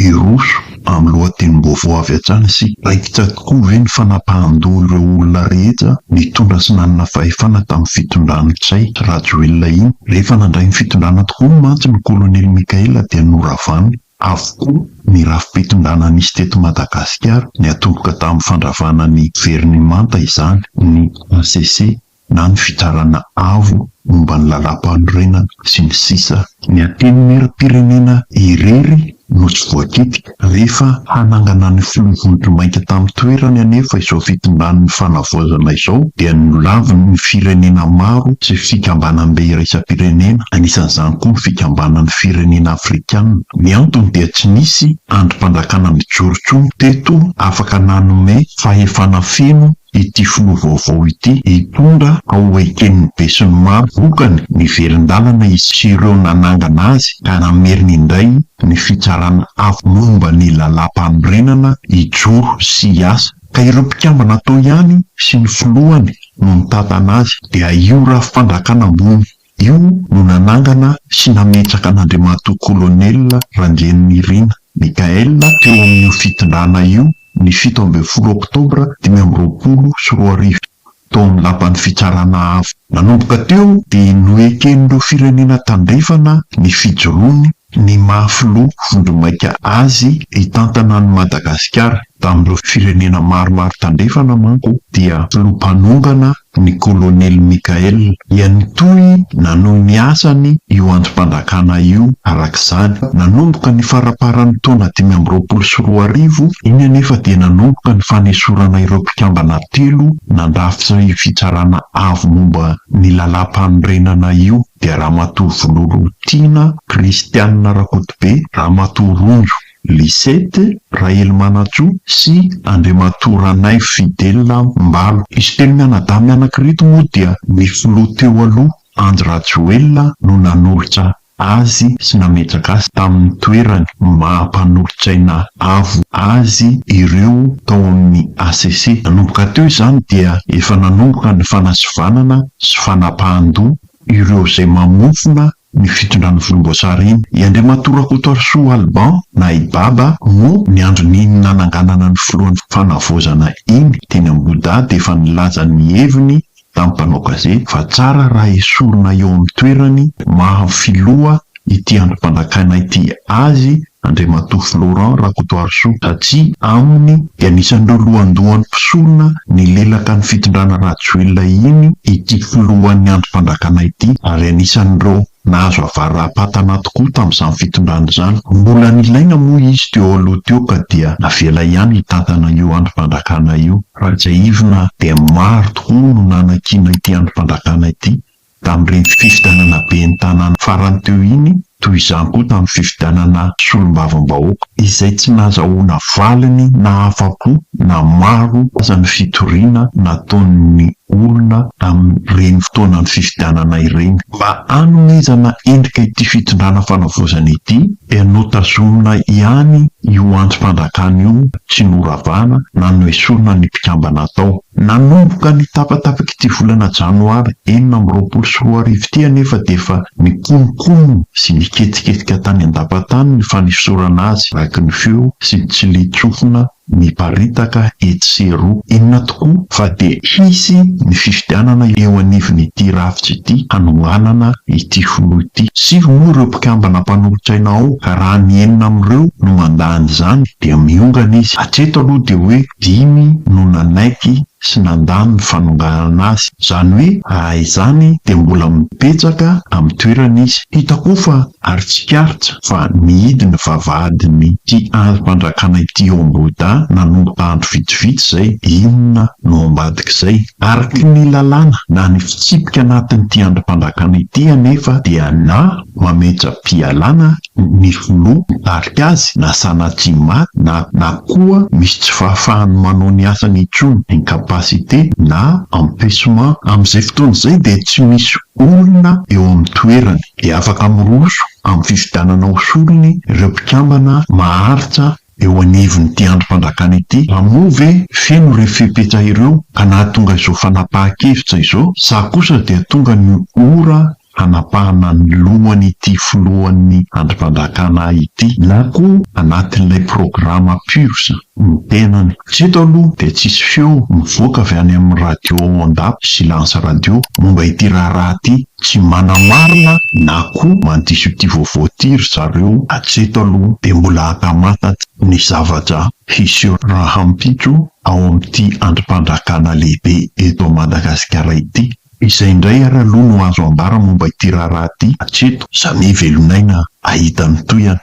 Hiroso amin'ny lohatenim-baovao avy hatrany isika. Raikitra tokoa ve ny fanapahan-doha ireo olona rehetra nitondra sy nanana fahefana tamin'ny fitondran'i Ntsay Rajoelina iny? Rehefa nandray ny fitondrana tokoa mantsy ny Kolonely Mikaela dia noravany avokoa ny rafi-pitondrana nisy teto Madagasikara, niatomboka tamin'ny fandravana ny Gouvernemanta izany, ny hcc. na ny fitsarana avo momba ny lalam-panorenana, sy ny sisa. Ny Antenimieram-pirenena irery no tsy voakitika. Rehefa hanangana ny filoha vondromainty tamin'ny toerany anefa izao fitondran'ny fanavaozana izao dia nolaviny ny firenena maro sy fikambanam-be iraisam-pirenena, anisan'izany koa ny Fikambanan'ny Firenena Afrikana. Ny antony dia tsy nisy andrim-panjakana mijoro intsony teto afaka nanome fahefana feno ity filoha vaovao ity hitondra ao eken'ny besinimaro vokany ny velon-dalana izy sy ireo nanangana azy ka nameriny indray ny fitsarana avo momba ny lalàmpanorenana hijoro sy hiasa ka ireo mpikambana tao ihany sy ny filohany no mitantana azy dia io raha fandrakana ambony Io no nanangana sy nametraka an'Andriamatoa Kolonela Randrianirina Michaël teo amin'io fitondrana io ny fito ambin'ny folo oktobra dimy amby roapolo sy roa arivo, tao amin'ny Lapan'ny Fitsarana Avo. Nanomboka teo dia noeken'ireo firenena tandrefana ny fijoroany ny maha filoha vondromaika azy hitantana an'i Madagasikara. Tamin'ireo firenena maromaro tandrefana manko dia filoha mpanongana ny Kolonely Mickaël dia nitohy nanohy ny asany io andrim-panjakana io araka izany. Nanomboka ny faraparan'ny taona dimy amby roapolo sy roa arivo iny anefa dia nanomboka ny fanesorana ireo mpikambana telo nandrafitra io fitsarana avo momba ny lalàmpanorenana io. dia Ramatoa Vololotiana Christiane Rakotobe, Ramatoa Rojo Lisette Rahelimanantsoa sy Andriamatoa Ranaivo Fidèle Mbalo. Izy telo mianadahy mianaka ireto moa dia ny filoha teo aloha Andry Rajoelina no nanolotra azy sy nametraka azy tamin'ny toerany maha mpanolotsaina avo azy ireo tao amin'ny HCC. Nanomboka teo izany dia efa nanomboka ny fanasivanana sy fanapahan-doha ireo izay mamofona ny fitondran'ny volomboasary iny. I Andriamatoa Rakotoarisoa Alban, na i Baba, moa ny andron'iny nananganana ny filohan'ny fanavaozana iny teny Ambohidahy dia efa nilaza ny heviny tamin'ny mpanao gazety fa tsara raha esorina eo amin'ny toerany maha filoha ity andro mpanjakana ity azy Andriamatoa Florent Rakotoarisoa satria aminy dia anisan'ireo lohandohan'ny mpisoloa nilelaka ny fitondrana Rajoelina iny ity filohan'ny andro mpanjakana ity ary anisan'ireo nahazo avara-patana tokoa tamin'izany fitondrana izany. Mbola nilaina moa izy teo aloha teo ka dia navela ihany hitantana io andro mpanjakana io. Raha tsiahivina dia maro tokoa no nanakiana ity andro mpanjakana ity Tamin'ireny fifidianana ben'ny tanàna farany teo iny, toy izany koa tamin'ny fifidianana solombavambahoaka, izay tsy nahazahoana valiny na afa-po na maro aza ny fitoriana nataon'ny olona tamin'ireny fotoanan'ny fifidianana ireny. Mba hanomezana endrika ity fitondrana fanavaozana ity, dia notazomina ihany io antsom-panjakana io tsy noravana na noesorina ny mpikambana tao. Nanomboka ny tapatapak'ity volana janoary enina amby roapolo sy roa arivo ity anefa dia efa nikononkonona sy niketsiketika tany an-dampantany ny fanesorana azy araky ny feo sy ny tsilin-tsofina miparitaka etsy sy eroa. Inona tokoa fa dia hisy ny fifidianana eo anivon'ity rafitra ity hanohanana ity filoha ity. Sivy moa ireo mpikambana mpanolotsaina ao ka raha ny enina amin'ireo no mandà an'izany dia miongana izy. Hatreto aloha dia hoe Dimy no nanaiky sy nandà ny fanonganana azy. Izany hoe raha izany dia mbola mibetsaka amin'ny toerany izy. Hita koa fa aritsikaritra fa nihidy ny vavahadin'ity andrim-pandrakana ity ao Ambohidahy nanomboka andro vitsivitsy izay. Inona no ambadik'izay? Araka ny lalàna na ny fitsipika anatin'ity andrim-pandrakana ity anefa dia na mametra-pialana ny filoha mitarika azy na sanatria maty na na koa misy tsy fahafahany manao ny asany intsony, incapacité na empechement. Amin'izay fotoana izay dia tsy misy olona eo amin'ny toerany, dia afaka miroso amin'ny fifidianana ho solony ireo mpikambana maharitra eo anivon'ity andrim-pandrakana ity, raha moa ve feno ireo fepetra ireo ka nahatonga izao fanapahan-kevitra izao sa kosa dia tonga ny ora hanapahana ny lohan'ity filohan'ny andrim-pandrakana ity na koa anatin'ilay programa Purs ny tenany. Hatreto aloha dia tsisy feo mivoaka avy any amin'ny radio ao Andapa sy Lance Radio momba ity raharaha ity. Tsy manamarina na koa mandiso ity vaovao ity ry zareo hatreto aloha dia mbola haka matat ny zavatra hiseho rahampitso ao amin'ity andrim-pandrakana lehibe eto Madagasikara ity. Izay indray ary aloha no azo ambara momba ity raharaha ity hatreto izany velon'aina hahita ny tohiny.